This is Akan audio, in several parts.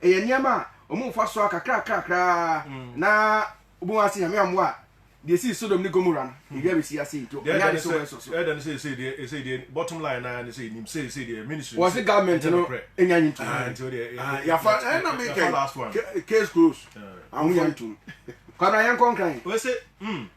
Ɛyɛ nneɛma a wɔn mfasoɔ kakrakrakra na wobɛhu ase Nyame ammoa a deɛ ɛsii Sodom ne Gomora no ɛwia bɛsi ase nti ɛnyɛ ade sɛ wobɛsɔ so. Ɛdɛ no sɛ ɛsɛ deɛ ɛsɛ deɛ bottom line naa ne sɛ ɛnim sɛ ɛsɛ deɛ ministry wɔn se government no ɛnya nyi ntum nti o deɛ yafa ɛna mi kɛ case close ahonya ntum kwabra yɛn kɔnkran. Wɔn se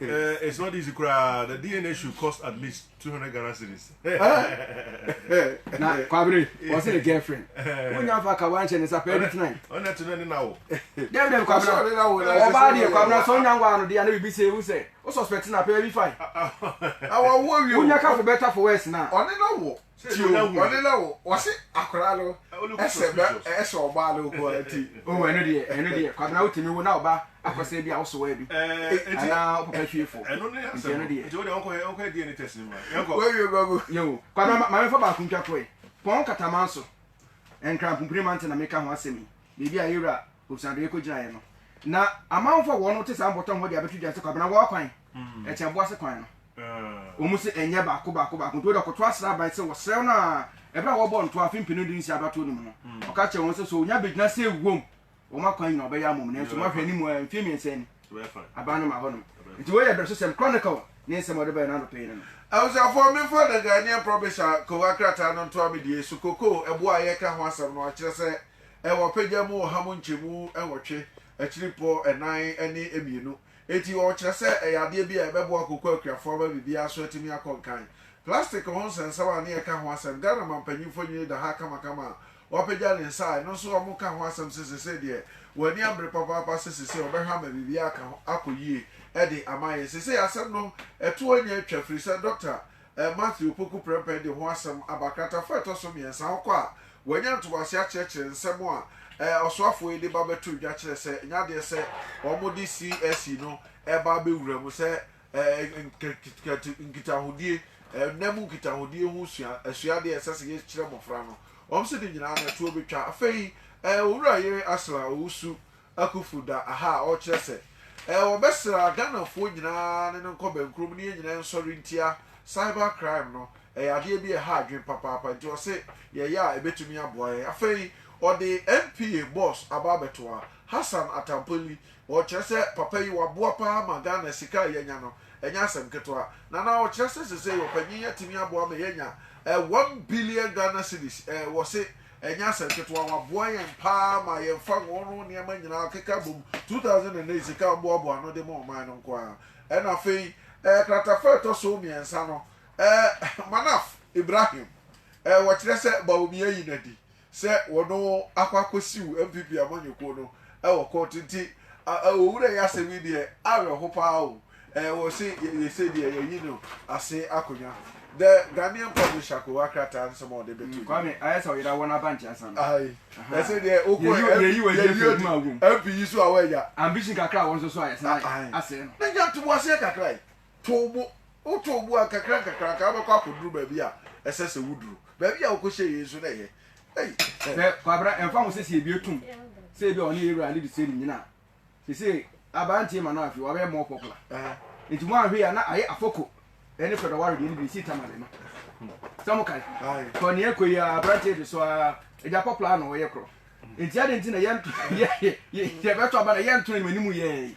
Eh, it's not easy koraa the dna should cost at least 200 ghana cities na kwabere wɔse ne girlfriend wonya fa ka wanhyɛ ne sapɛ ɛdi tena ɔnɛ to no ne nawo dɛm dɛm kwabena ɔbaa deɛ kwabena sɛ wonya nwa no deɛ na biribi sɛ ɛwu sɛ wo suspect na pɛ bi fae wonya ka for better for worse na ɔne na wo ti o ɔne na wo wɔse akora no ɛsɛ bɛ ɛsɛ ɔbaa no nko ara ti o ɛno deɛ ɛno deɛ kwabena wotumi wo na ɔba akɔsɛ bi a wosowa bi anaa ɔpapa hwie fo nti ɛno deɛ wɔwie ba mu yo kwabena ma ma mefa baako ntwa kɔe pɔn katamanso nkrampompire mante na meka ho asɛm yi biribi a yɛwura Obusuadɔyɛ kogyinaeɛ no, na amanfoɔ a wɔte saa mpɔtam hɔ de abɛto dwa sɛ Kwabena wɔ kwan, ɛkyɛ ɛboa sɛ kwan no. Wɔn se ɛnyɛ baako baako baako nti wɔde ɔkɔtoa srɛ aban sɛ wɔsrɛ no a ɛberɛ a wɔrebɔ ntoa afe mpenu du nsia abatoɔ no mu no, ɔka kyerɛɛ wɔn sɛ sɛ ɔnya bɛgyina sɛ wom wɔn akwan nyina ɔbɛyɛ ama wɔn nanso moahwɛ anim a mfeɛ mmiɛnsa ni aban no ma hɔnom nti wei yɛ berɛsosɛm Chronicle ne nsɛm a ɔde baeɛ no anɔpa yi no no. Abusuafoɔ, memfa The Ghanaian Provincial Cocoa krataa no ntoa me deɛ su cocoa ɛboɔ a yɛreka ho asɛm no akyerɛ sɛ Ɛwɔ pagya mu ɔha mu nkyɛmu nwɔtwe, akyiripɔ nnan ne mmienu. Enti wɔkyerɛ sɛ ɛyɛ adeɛ bi a ɛbɛboa kooko akuafoɔ ama biribiara so atumi akɔ nkan. Plastic ho nsɛnsɛm a ne ɛka ho asɛm, Ghana mampanyimfoɔ nyini da ha kamakama a wapagya ne nsa a ɛno nso wɔka ho asɛm sɛ sesei deɛ wɔn ani abre papaapa sɛ sesei wɔbɛhwɛ ama biribiara aka ho akɔ yie de ama yɛn. Sesei asɛm no ɛto anya atwa firisɛ Dɔkta Ɛ Matthew Opoku Prempeh de ho asɛm aba kratafo a ɛtɔ so mmiɛnsa ho kɔ a wɔanya ntoboase akyerɛkyerɛ nsɛm a ɛ ɔsoafoɔ yi de ba bɛtoo dwa kyerɛ sɛ ɛnyɛ adeɛ sɛ wɔde CSE no reba abɛwura mu sɛ ɛ nk nkitahodie, ɛ nna mu nkitahodie ho sua asuadeɛ a ɛsɛ sɛ yɛkyerɛ mmɔfra no. Wɔn se ne nyinaa no ɛtoɔ bɛtwa. Afei ɛ Owura Yere Asla Owusu Akuffo da aha a ɔrekyerɛ sɛ ɛɛ wɔbɛsra Ghanafoɔ nyinaa ne no nkɔ bɛnkurom ne yɛn nyinaa nsɔre ntia cyber crime no, ɛyɛ adeɛ bi a ɛha adwene papaapa nti ɔse yɛyɛ a ɛbɛtumi aboa yɛn. Afei ɔde NPA boss aba abɛto a Hassan Attampoli, ɔrekyerɛ sɛ papa yi waboa pa ara ma Ghana sika a yɛanya no ɛnyɛ asɛm ketewa na na ɔrekyerɛ sɛ sesei ɔpanyin yi atumi aboa ma yɛanya ɛɛ one billion Ghana cedis ɛɛ wɔse Ɛnyɛ asɛm ketewa, wɔaboa yɛn paa ma yɛmfa wɔn nneɛma nyinaa keka bom, 2008 sika a wɔboaboa ano de ma ɔman no nko ara. Ɛna afei, kratafa a ɛtɔ so mmiɛnsa no, Manaf Ibrahim, wɔkyerɛ sɛ Bawumia ayi no adi sɛ ɔno akɔ akɔsiw NPP amanyɔkuo no wɔ kɔɔto nti, Owura yi asɛm yi deɛ, awerɛho paa oo. Eh wɔ se yɛyɛ sɛdeɛ yɛyi no ase akonnwa The Ghanaian publisher akowa krataa nsɛm a ɔde bɛto dwa. Kwame, ayɛ sɛ ɔyera wɔn aba nkyɛnsa no. Aye. Ɛsɛ deɛ wokɔ Yɛyi wɔ yɛyi wɔ adwuma wom. MP yi so a wɔagya. Ambition kakra a wɔn nso so a yɛsan ayɛ asɛe no. Ne nya ntoboaseɛ kakra yi. Too bo. Wotoo bo a nkakra nkakra anka wobɛkɔ akɔduru baabi a ɛsɛ sɛ woduru. Baabi a wokɔhyɛɛ yei nso na ɛyɛ. Ei. Hwɛ Kwabena, ɛmfa ho sɛ sɛ yɛbue tom sɛ ebia ɔne yɛn wura no de sɛ nnyina a, Sesei aberanteɛ ma no afe, wabɛyɛ more popular. Nti mo anhwɛ yi a na ayɛ Afoko ɛne Fred Ɔware deɛ no bi, ɛsii Tamale no. Sɛ mo kae? Kɔ nea ɛkɔ yi a aberanteɛ yi de so a, agya popular a na ɔyɛ korɔ. Nti adɛn nti na yɛbɛto aba na yɛnto anim anim yɛɛ yi?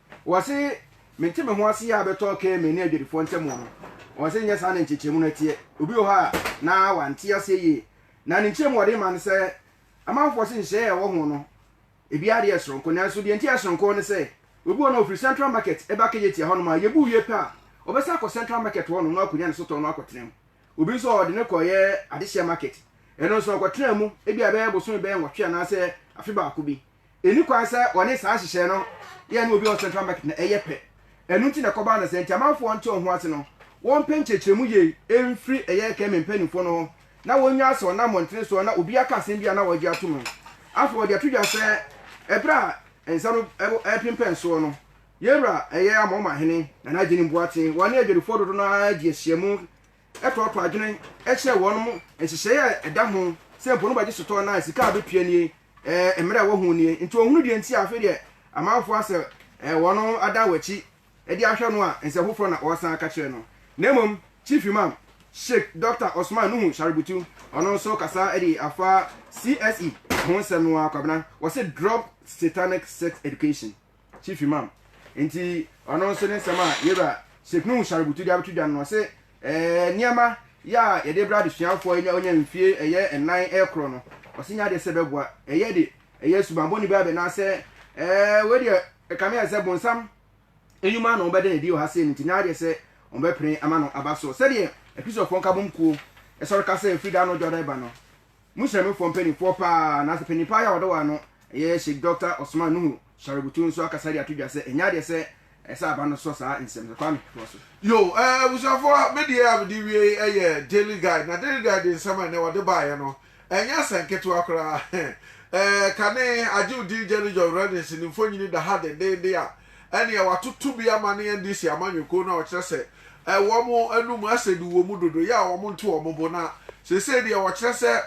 Wɔse mente me ho ase yɛ a bɛtɔ kɛɛ me ne adwadifoɔ ntɛm wɔ no. Wɔse nyɛ saa na nkyekyeremu no teɛ. Obi wɔ hɔ a na wante aseɛ yie. Na ne nkyerɛmu a ɔde rema ne sɛ amanfoɔ se nhyehyɛeɛ a ɛwɔ ho no ebiara deɛ yɛ soronko. Nanso deɛ nti a ɛyɛ soronko ne sɛ obi wɔ no a ɔfiri Central Market ba Kejetia hɔnom a yɛbu wie pɛ a ɔbɛsan akɔ Central Market hɔnom na wakɔnya ne sotɔɔ no akɔtena mu. Obi nso a ɔde no kɔeɛ Adehyeɛ Market. Ɛno nso ɔkɔtenaa mu ebia bɛyɛ bosome bɛyɛ nwɔtwe anaasɛ afe baako bi. Ɛnni kwan sɛ wɔne saa nhyehyɛe no yɛ no obi a ɔwɔ Central Market no yɛ pɛ. Ɛno nti na ɛkɔbaa no sɛ, nti amanfoɔ nte wɔn ho ase no, wɔmpɛ nkyerɛkyerɛmu yie mfiri ɛyɛ Ekeme mpanimfoɔ no hɔ na wɔnnyae sɛ ɔnam mmɔntene soɔ na obi aka asɛm bi a na wɔagye atom no. Afei wɔde ato dwa sɛ, ɛberɛ a nsa no repempɛn soɔ no, yɛn wura ɛyɛ Amoman hene, Nana Agyeni Mboaten, wɔne adwadifoɔ dodo no ara gye ahyiamu tɔɔtɔɔ adwene kyerɛ wɔnom nhyehyɛe a ɛda ho sɛ mpo no bɛgye sotɔɔ no a sika a bɛtua nie Eh, mmerɛ a wɔhuu nie, nti wɔhunu deɛ nti a afei deɛ amanfoɔ asɛ eh, wɔn adan wɔn akyi de ahwɛ no a, nsɛm foforɔ na wɔresan aka kyerɛ no. Na mmom, Chief Imam, Sheik Dɔkta Osman Nuhu Shaributu, ɔno nso kasa de afa CSE ho nsɛm no ara, Kwabena, wɔse drop satanic sex education. Chief Imam. Nti ɔno nso ne nsɛm a yɛwura Sheikh Nuhu Shaributu de abɛto dwa no, ɔse ɛɛ nneɛma yɛ a yɛde brɛ adesuafoɔ a wɔnya mfie ɛyɛ nnan rekorɔ no, ɔse nyɛ adeɛ sɛ ɛbɛboa, ɛyɛ de ɛyɛ subammɔne bi abɛ anaasɛ ɛɛ wei deɛ ɛkame ayɛ sɛ bonsam nnwuma na wɔbɛda no adi wɔ ha sei no nti nyɛ adeɛ sɛ wɔbɛpene ama no aba so sɛdeɛ Akristofoɔ nkabom kuo sɔre ka sɛ ɛfiri da a na ɔdwada reba no. Muhyira me foɔ mpaninfoɔ paa naase panin paa yɛ a wɔde wɔn ano yɛ Sheik Dɔkta Osman Nuhu Shaributu nso akasa de ato dwa sɛ ɛnyɛ adeɛ sɛ ɛsɛ aba no sɔ saa nsɛm no Kwame toa so. Yoo ɛɛ abusuafoɔ me deɛ a mede wie yi yɛ Daily Guide na Daily Guide nsɛm a ɛnnɛ wɔde baeɛ no ɛnyɛ asɛm ketewa koraa ɛɛ kane Agyew Dee Jelly John Reddings ne mfonyini da ha dendeenden a ɛnneɛ wɔatoto bi ama ne NDC amanyɔkuo no a wɔkyerɛ sɛ wɔn anom asɛdu wɔ mu dodo yɛ a wɔnto wɔn bo na seesei deɛ wɔkyerɛ sɛ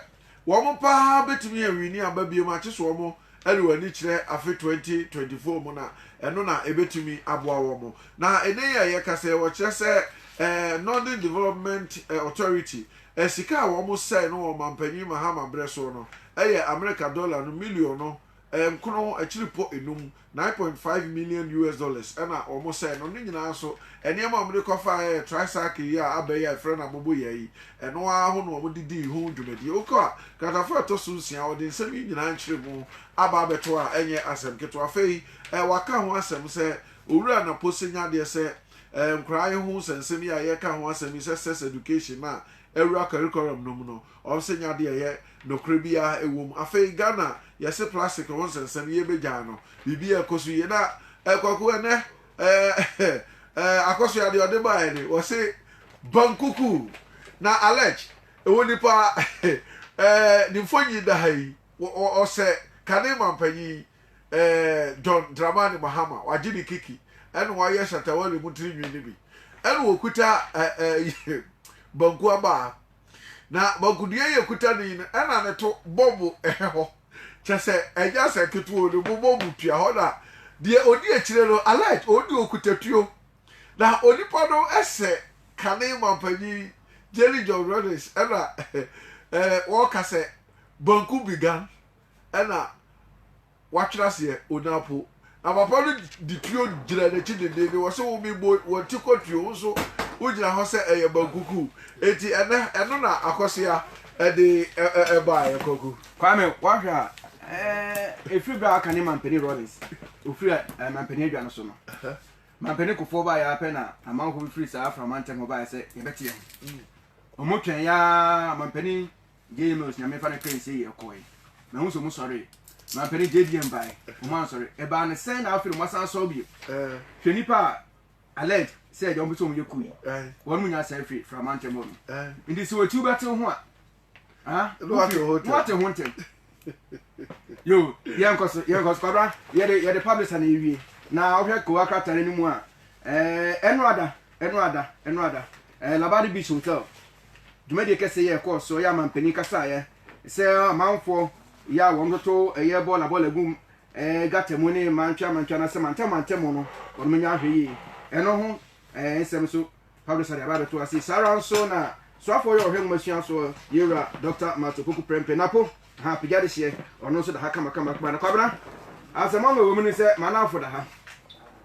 wɔn pa ara bɛtumi awini aba biom a kyese wɔn de wɔn ani kyerɛ afe 2024 mu na ɛno na ɛbɛtumi aboa wɔn. Na ɛnɛ yi a yɛkasa yi wɔkyerɛ sɛ Northern Development Authority sika a wɔsɛe no wɔ ɔmampanyin Mahama berɛ soɔ no yɛ Amerika dɔla no miliɔno nkron akyiripɔ enum, nine point five million US dollars, na wɔn sɛɛ no. Ne nyinaa so, nneɛma a wɔde kɔ fa yɛɛ tricycle yi a aba yi a yɛfrɛ no abobo yɛɛ yi, ɛno ara ho na wɔde dii ho dwumadie. Wokɔ a, nkratafoɔ a ɛtɔ so nsia, wɔde nsɛm yi nyinaa nkyerɛmu aba abɛto a ɛnyɛ asɛm ketewa. Afei, wɔaka ho asɛm sɛ, Owura Napose nya adeɛ sɛ, Nkoraa yi ho nsɛnsɛm yi a yɛreka ho asɛm yi sɛ sex education a awura curriculum no mu no, Ɔnsenya deɛ ɛyɛ nokorɛ biara ɛwom. Afei Ghana yɛse plastic ho nsɛnsɛm yie bɛgyae no. Biribi a ɛkɔ so yie. Na eh Kwaku ɛnɛ eh eh Akosua deɛ ɔde baeɛ de wɔse bankuku na alleged ɛwɔ nipa eh ne mfonyin da ha yi. Ɔsɛ kane mampanyin eh John Dramani Mahama wagye ne kiki ɛna wayɛ Shatta Wale mu tirinwi no bi. Ɛna ɔkuta eh eh banku abaa. Na magodua yi ekuta ne yi no ɛna ne to bɔbo ɛhɛ hɔ kyɛ sɛ ɛnya sɛ ketewa o ne bo bɔbo tua hɔ na deɛ odi akyire no alert odi okuta tuo na onipa no ɛsɛ kane mampanyin Jerry John Rawlings ɛna ɛɛ wɔka sɛ banku began ɛna watwera aseɛ ɔnya po. Na papa no de tuo gyina n'akyi dendeenden, wɔse wo me boi, wɔnte kɔ tuo, wo nso wogyina hɔ sɛ ɛyɛ bankuku. Enti ɛnɛ, ɛno na Akɔsea de baeɛ, Kwaku. Kwame, woahwɛ a, ɛfiri berɛ a aka ne Mampanin Rawlings, ɔfiri Mampanin adwa no so no, Mampanin Kufuor baeɛ ara pɛ na amanfoɔ bi firi saa Aframa ntam hɔ baeɛ sɛ yɛbɛte yɛn ho. Wɔtwɛn yɛ ara, Mampanin JMS, Nyame mfa no kɛn sei ɛkɔɔe, mahu sɛ ɔmo sɔree, mampanin JDM bae, ɔmo ansɔre, ɛbaa no sɛn na afei na ɔmo asan asɔre bio? Hwɛ nnipa a alleged sɛ deɛ ɔmo pɛ sɛ ɔmo yɛ kuo yi, wɔn mo nyɛ asɛe firi Frama ntɛm hɔ nom, nti sɛ ɔkyi wobɛte ho a, ah, wate ho ntɛm. Yo, yɛnkɔ so, yɛnkɔ so, kwabra, yɛde, yɛde publisher na ewie, na wohwɛ kowa krataa no mu a, ɛɛ, ɛno ada, ɛno ada, ɛno ada, ɛɛ, Labadi Beach Hotel, dwumadie kɛseɛ yɛ ɛkɔɔ soɔ yɛ amanpanin kasaeɛ sɛ amanfoɔ yɛ a wɔn toto ɛyɛ bɔɔla bɔɔla gu ɛɛ gata mu ne mantwa mantwa na sɛ mantam mantam mu no wɔn nyɛ ahwɛ yie ɛno ho ɛɛ nsɛm nso Pablo Sade aba abɛto ase saa ara nso na soafoɔ yɛ ɔhwɛ nwomasua soɔ yɛwura Dr. Mato Poku Prempeh Napo Ha apagya de hyeɛ ɔno nso da ha kama kama kama na kwabena asɛm ama wɔ mu ne sɛ manafo da ha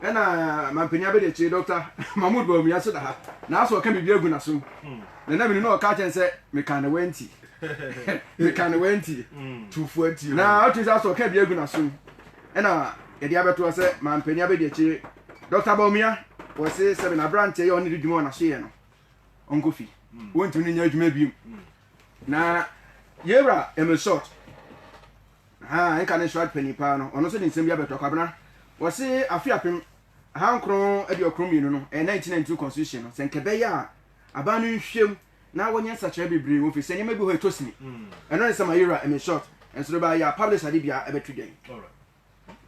ɛna mampanya bɛde akyire dɔkta mahmud bawumia nso da ha na asɛ ɔka biribi agu n'asom hmm. na na mene na ɔka kyɛn sɛ meka ne wanti meka ne wanti hmm. tufoɔ nti na atumi sɛ asɛ ɔka biribi agu n'asom ɛna yɛde abɛtoa sɛ mampanya bɛde akyire dɔkta bawumia wɔse sɛ menaberanteɛ yɛ ɔne de dwuma wɔ n'aso yɛ no ɔnkɔ fi wontumi no nyɛ adwuma bio na yɛwura ɛmesɔt ha nka ne srad panyin paa no ɔno nso de nsɛm bi abɛtɔ kwabena wɔse afe apem ahankron aduokron mmienu no ɛyɛ 1992 constitution no sɛ nkɛbɛyɛ a aban no nhwɛm na wɔnyɛ nsakyerɛ bebree wɔ fi sɛ nneɛma bi hɔ ɛtɔ sini ɛno ne sɛ ma yɛwura ɛmesɔt ɛnso no bɛayɛ a publish ade bia ɛbɛto dwan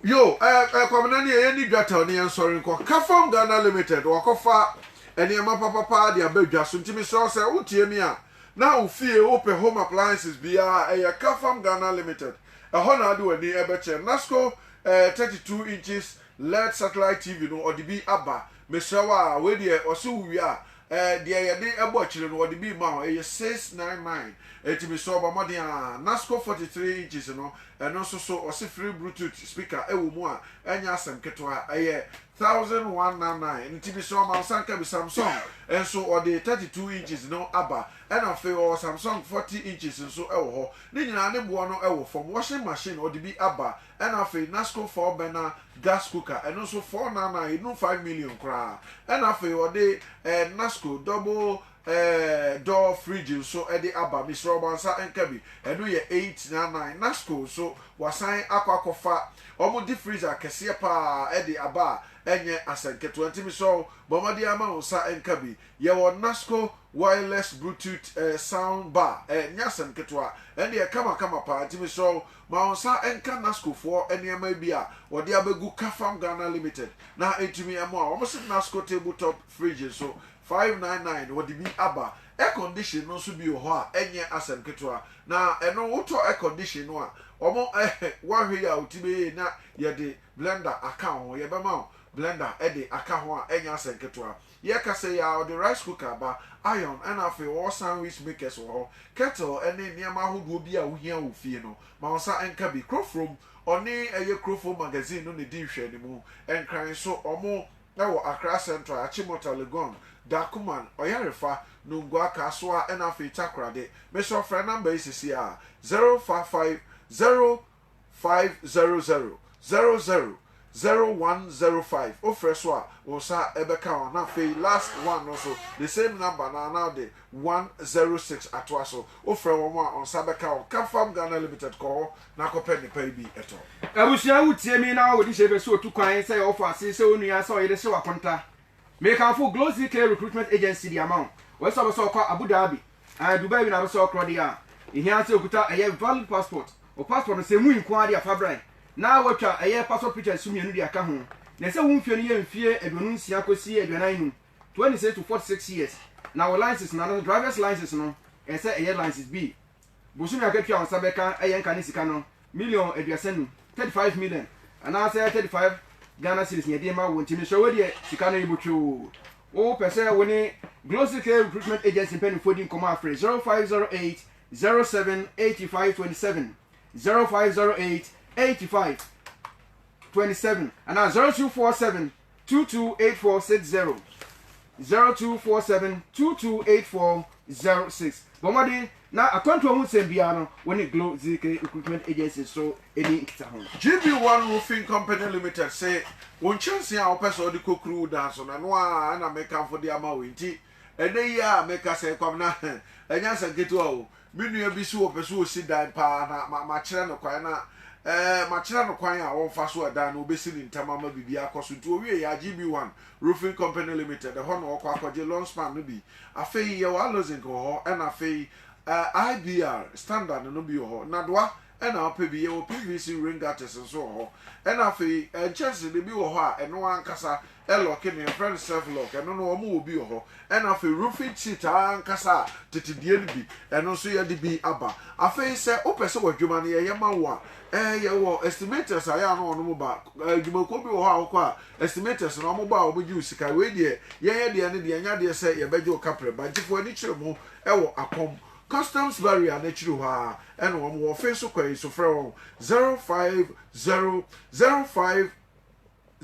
Yo eh eh Kwabena neɛ yɛnni dwa tɛw ne yɛnsɔre nkɔ Kafam Ghana Limited Wɔakɔfa nneɛma papapaa de aba dwa so nti mesrɛ wo sɛ wotie me a na wo fie wopɛ home appliances biara a ɛyɛ Kafam Ghana Limited ɛhɔ na wode w'ani bɛkyerɛ Nasco eh 32 inches led satellite TV no ɔde bi aba mesrɛ wo a wei deɛ ɔse wowie a Ɛɛ, deɛ yɛde bɔ akyire no, wɔde bi rema wo, ɛyɛ six nine nine, enti mesrɛ wo bɔ mmɔden ara. Nasco forty three inches no, ɛno nso so, wɔse free Bluetooth speaker wɔ mu a, ɛnyɛ asɛm ketewa, ɛyɛ thousand one nine nine, enti mesrɛ wo ma wo nsa nka bi. Samsung nso, wɔde thirty two inches no aba, ɛna afei wɔwɔ Samsung forty inches nso wɔ hɔ. Ne nyinaa ne boɔ no wɔ fam. Washing machine, wɔde bi aba. Ɛna afei Nasco four burner gas cooker ɛno nso four nine nine ɛnu five million koraa. Ɛna afei ɔde eh, Nasco double eh, door fridge nso de aba, mesrɛ ɔmo ansa nka bi, ɛno yɛ eight nine nine. Nasco nso wasan akɔ akɔfa ɔmo deep freezer kɛseɛ paa de aba a ɛnyɛ asɛnketewa nti mesrɛ wo bɔ mmɔden ara ma wo nsa nka bi. Yɛwɔ Nasco wireless Bluetooth eh, sound bar, ɛnyɛ asɛm ketewa, ɛno deɛ ɛkama kama paa nti mesrɛ wo Ma wo nsa nka NASCOfoɔ nneɛma bi a wɔde abɛgu Cafam Ghana Limited na ɛntumi mmoa. Wɔn se NASCO table top fridge nso, five nine nine, wɔde bi aba. Air condition no nso bi wɔ hɔ a ɛnyɛ asɛm ketewa. Na ɛno wotɔ air condition no a, wɔn eh, woahwɛ yie a wo ti bɛyie na yɛde blender aka ho. Yɛbɛma wo blender de aka ho a ɛnyɛ asɛm ketewa. Yɛrekasa yi ara, wɔde rice cooker aba, iron, ɛnna afei wɔwɔ sandwich makers wɔ hɔ, kettle ne nneɛma ahodoɔ biara a wohia wɔ fie no. Ma wo nsa nka bi. Kurofurom, ɔne ɛyɛ Kurofurom Magazine no na ɛdi nhwɛanimu. Nkran nso, wɔwɔ Accra Central, Achimota, Legon, Darkuman, Ɔyarefa, Nungua, Kasoa, ɛnna afei Takoradi. Mesrɛ wo, frɛ nɔmba yi seesei ara, 0550. five zero zero zero zero zero one zero five wofrɛ so a wo nsa bɛka ho na afei last one no nso the same number no ara na wode one zero six atoa so wofrɛ wɔn a wo nsa bɛka ho Camfarm Ghana Limited kɔ hɔ na kɔpɛ nnepa yi bi tɔ. Abusua wo tie me na wo de hyɛ bɛ so otu kwan sɛ ɔfɔ ase sɛ onua sɛ ɔyere sɛ wakonta me kamfo Glosy Clay Recruitment Agency de ama wo ɔyɛ sɛ ɔbɛ sɛ ɔkɔ Abu Dhabi Ɛɛ Dubai wi na abɛsɛ ɔkrɔ deɛ a, ehia ara sɛ okuta ɛyɛ valid passport. Wɔ passport no, sɛ emu yi nko ara deɛ a fa bra na watwa ɛyɛ passport pictures nso mmienu de aka ho. Na ɛsɛ wo mfeɛ no yɛ mfeɛ aduonu nsia kɔsi aduanan nnum, 26 to 46 years, na wo license no anaasɛ driver's license no ɛsɛ ɛyɛ license bi. Bosome akatua a wo nsa bɛka ɛyɛ nka ne sika no Million aduasa num, thirty five million, anaa sɛ thirty five Ghana cedis na yɛde ma wo nti mesrɛ wo deɛ sika no yɛbɔ twoo. Wo pɛ sɛ wo ne Glosy K Recruitment Agency mpanyinfoɔ di nkɔmɔ a frɛ zero five zero eight zero seven eighty five twenty seven zero five zero eight eighty five twenty seven anaa zero two four seven 2284060 0247228406. Bɔ mmɔden na akwantuo ho nsɛm biara no wo ne Glo ZK Recruitment Agency so ɛni nkitaho. GB1 Roofing Company Limited se wo nkyɛnsee a wopɛ sɛ wode kɔkuru wo dan so no ɛno ara na mekamfo de ama wo enti ɛnnɛ yi ara mekasa yi Kwabena ɛnyɛ asɛm ketewa o Me nua bi se ɔpɛ sɛ ɔsi dan paa na makyerɛ no kwan na eh, makyerɛ no kwan a ɔmfa so a dan no ɔbɛsi no ntɛm ama biribiara akɔ so. Nti ɔwieeɛ a, GB One Roofing Company Limited, ɛhɔ na ɔkɔ akɔgye long span no bi. Afei yɛwɔ Allozinc wɔ hɔ ɛna afei eh, IBR, Standard no bi wɔ hɔ. Nnadoa na ɔpɛ bi. Yɛwɔ PVC ring artist nso wɔ hɔ. Ɛna afei nkyɛnsede bi wɔ hɔ a ɛno ankasa ɛlɔke no, yɛfrɛ no self lock. Ɛno no wɔn wɔ bi wɔ hɔ. Ɛna afei roofing sheet ankasa a tete deɛ no bi, ɛno nso yɛde bi aba. Afei sɛ wopɛ sɛ w'adwuma no yɛyɛ ma wo a, ɛɛ yɛwɔ estimators a ɛyɛ a na wɔnom ba. Adwumakuo bi wɔ hɔ a wokɔ a estimators no wɔn ba a wɔgye wo sika. Wei deɛ yɛyɛ deɛ no deɛ ɛnyɛ adeɛ sɛ yɛbɛgye wo kaprɛ. Bankyefoɔ ani kyerɛ mu wɔ akɔm. Customs barrier no akyiri hɔ ara ɛna wɔn wɔ ɔfe nso kɔ yi so frɛ wɔn zero five zero zero five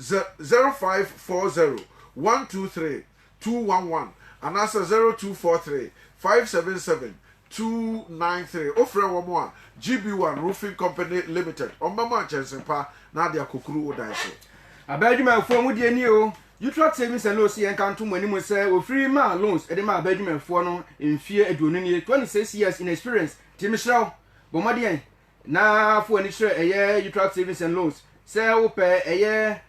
zero five four zero one two three two one one anaasɛ zero two four three five seven seven two nine three wo frɛ wɔn a GB one roofing company limited wɔn bɛma nkyɛnse pa na ade akɔkuru wo dan so. Aban adwumayɛfoɔ mu deɛ nie o, Jutla Tsevi sɛ no se yɛnka nto mo anim sɛ wɔfiri maa loans de maa bɛ adwumayɛfoɔ no mfeɛ aduonu nie, 26 years in experience, nti mehyerɛ wo, bɔ mmɔdeɛn na fa w'ani kyerɛ ɛyɛ Jutla Savings and Loans sɛ wo pɛ ɛyɛ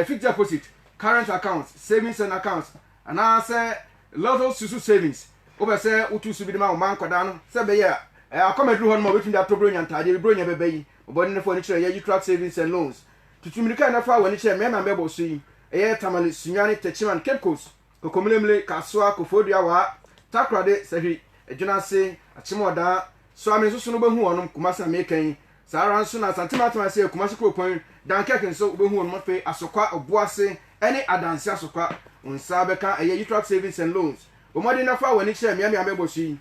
fixed deposit, current accounts, savings and accounts anaa sɛ lotto susu savings wo pɛ sɛ wo tu su bi de ma wo mma nkwadaa no sɛ ɛbɛyɛ a akɔm aduru hɔ no ma wobɛtumi de atɔ bronya ntaadeɛ bi bronya bɛbɛ yi, bɔ mmɔdeɛn na fa w'ani kyerɛ ɛyɛ Jutla Savings and Loans Tutu mmirika na fa w'ani kyerɛ mmarima a mɛbɔ so yi, ɛyɛ Tamale, Sunyani, Techiman, Cape Coast, Kokomilemile, Kasoa, Koforidua, Waa, Takoradi, Sahwi, Adwinase, Akyemɔɔdaa, so a menso so no wobɛhu wɔnom, Kumase a mereka yi. Saa ara nso na Asante Matam ase yɛ Kumase Kuropɔn, Dunkirk nso wobɛhu wɔnom afei Asokwa, Obuase, ɛne Adanse Asokwa. Wo nsa bɛka ɛyɛ Utrecht Savings and Loans. Bɔ mmɔden na fa w'ani kyerɛ mmeammea a mɛbɔ so yi,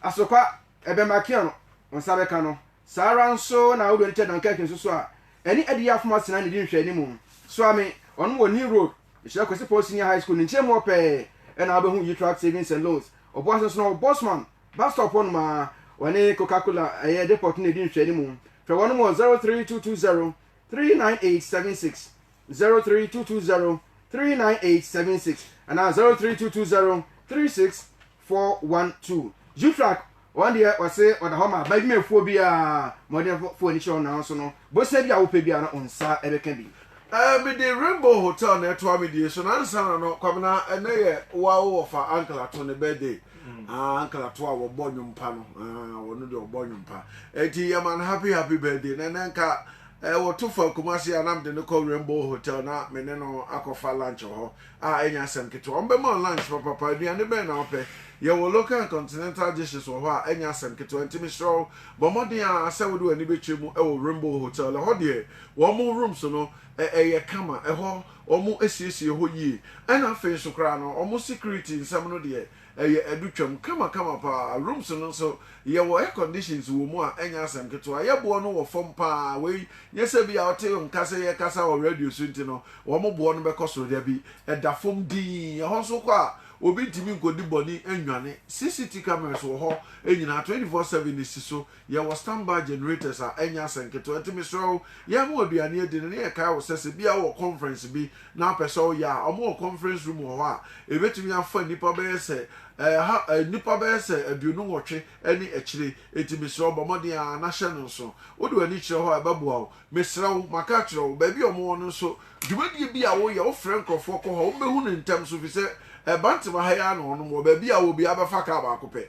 Asokwa, Ebemba Kiano, wo nsa bɛka no. Saa ara nso na wo Donitcha Dunkerque nso so a ɛne Adiyɛ Afom Asena ne di nhwɛanim. Soa me, ɔno wɔ New Road, Nhyira Kwesi Paul Senior High School ne nkyɛnmu hɔ pɛɛ na wobɛhu Yi Truck Savings and Loans. Ɔboa ase nso na ɔwɔ Bosman Bus Stop hɔnom a ɔne Coca Cola ɛyɛ depot no di nhwɛanim. Frɛ wɔnom wɔ 03220 39876, 03220 39876 anaa 03220 36 four one two Zutrak wɔn deɛ ɔse ɔda hɔ ma badwumafoɔ biara mmɔdenfoɔ ani kyerɛ wɔn nanso no bosea bi a wopɛ biara no wo nsa bɛka bi. Eh, me de Rainbow Hotel na ɛtoa me die so na ansa na no Kwabena ɛnɛ yɛ wo a wo wɔfa Uncle Ato ne birthday ah Uncle Ato a wɔbɔ nnwom pa no ah wɔno deɛ ɔbɔ nnwom pa enti yɛma no happy happy birthday na ɛnɛ nka eh, wɔto fa Kumasi a na mede no kɔ Rainbow Hotel na me ne no akɔfa lunch wɔ hɔ Ah, ɛnyɛ asɛm ketewa. Wɔbɛma wo lunch papapa. Aduane bɛn na wopɛ? Yɛwɔ local and continental dishes wɔ hɔ a ɛnyɛ asɛm ketewa. Enti mesrɛ wo, bɔ mmɔden ara sɛ wode w'ani bɛkyerɛ mu wɔ Rainbow Hotel. Ɛhɔ deɛ, wɔn rooms no, ɛ, ɛyɛ kama. Ɛhɔ, wɔasiesie hɔ yie. Ɛnna afei nso koraa no, wɔn security nsɛm no deɛ, Ɛyɛ adutwam kamakama paa. Rooms no nso, yɛwɔ air conditions wɔ mu a ɛnyɛ asɛm ketewa. Yɛboɔ no wɔ fam paa. Wei nyɛ sɛ ebia wote nka sɛ yɛkasa wɔ radio so nti no wɔn boɔ no bɛkɔ soro. Dabi, ɛda fam dinn. Ɛhɔ nso wokɔ a, obi ntumi nkɔdi bɔne nnwane. CCT cameras wɔ hɔ nyinaa, twenty four seven si so. Yɛwɔ standby generators a ɛnyɛ asɛm nketewa, enti mesrɛ wo, yɛn ma w'aduane adi no na yɛkae wo sɛ, sɛ ebia wowɔ conference bi na wopɛ sɛ woyɛ a, wɔwɔ conference room wɔ hɔ a ebetumi afa nnipa bɛyɛ sɛ ɛha, nnipa bɛyɛ sɛ aduonu nwɔtwe ne akyire, enti mesrɛ wo, bɔ mmɔden ara na hyɛ no nso. Wode w'ani kyerɛ hɔ a, ɛbɛboa wo. Mesrɛ wo, maka akyerɛ wo, baabi a wɔwɔ no nso, dwumadie bi a woyɛ, wofrɛ nkurɔfoɔ kɔ hɔ a, wɔbɛhu no ntɛm so, ɛfiri sɛ Bantam ha yi ara na wɔnom wɔ, baabi a wowɔ biara bɛfa kaa baako pɛ,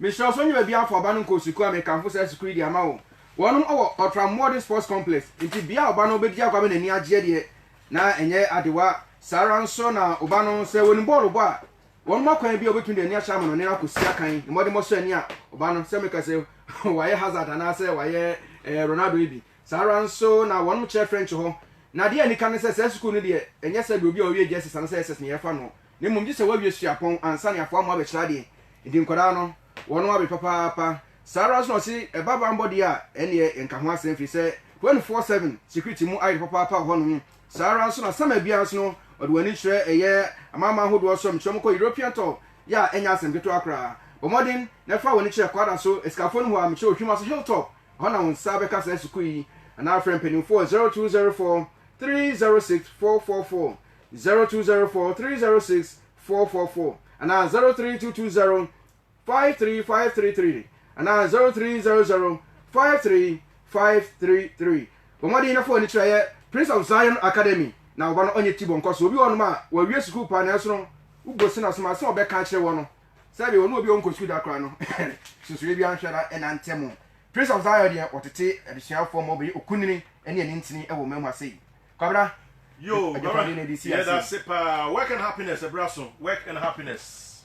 Mesrɛ wo sɛ ɔnyɛ baabi afa ɔba no nkɔ sukuu a mekamfo saa sukuu yi de ama wo. Wɔnom wɔ Ɔtra Mmoɔden Sports Complex nti bea a ɔba no bɛdi agua bɛ n'ani agyeɛ deɛ na ɛnyɛ adewa. Saa ara nso na ɔba no sɛ wɔnim bɔɔlo bɔ a wɔnom wɔ kwan bi a ɔbɛtumi de ani ahyɛ amanɔne no akɔsi akan mmɔdemmɔ so ani a ɔba no sɛ meka sɛ wayɛ Hazard anaa sɛ wayɛ eh, Ronaldo yi bi. Saa ara nso na wɔnom kyerɛ French hɔ. Na adeɛ a anika ne sɛ saa sukuu no deɛ ɛnyɛ sɛ deɛ obi a ɔwie JSS anaa sɛ SS na yɛfa noɔ. Na mmom gye sɛ woawie suapɔn ansa ne afoa mmoa abɛkyerɛ adeɛ. Enti nkwadaa no, wɔnom awe papaapa. Saa ara nso na ɔse ɛba banbɔ deɛ a, ɛnneɛ yɛnka ho asɛm firi sɛ twenty four seven security mu ayere papaapa wɔ hɔnom. Saa ara nso na summer biara nso no, wɔde wɔn ani kyerɛ ɛyɛ amanaman ahodoɔ so. Mekyerɛ mo kɔ European tour yɛ a, ɛnyɛ asɛm ketewa koraa. Bɔ mmɔden na fa w'ani kyerɛ Kwada so asikafoɔ no hɔ a, mekyerɛ Ohwima so Hilltop, ɛhɔ na wo nsa bɛka saa sukuu yi. Anaa frɛ mpanimfoɔ wɔ zero two zero four three zero six four four four. zero two zero four three zero six four four four anaa zero three two two zero five three five three three anaa zero three zero zero five three five three three bɔ mmɔden na fa w'ani kyerɛ yɛ prince of zion academy na ɔba no ɔnyɛ ti bɔ nkɔ so obi wɔ hɔnom a wɔawie sukuu paa nanso no wobɔ sin asom asɛm a ɔbɛka akyerɛ wɔ no sɛbi wɔn obi a ɔnkɔ sukuu da koraa no susuɛ bi anhwɛ na ɛna ntɛ mu prince of zion deɛ ɔtete adesuafoɔ ma ɔbɛyɛ okunini ne anintini wɔ mmamu ase yi Kwabena, Yo, Baba, yɛdase paa. Work and happiness, ɛbra so. Work and happiness.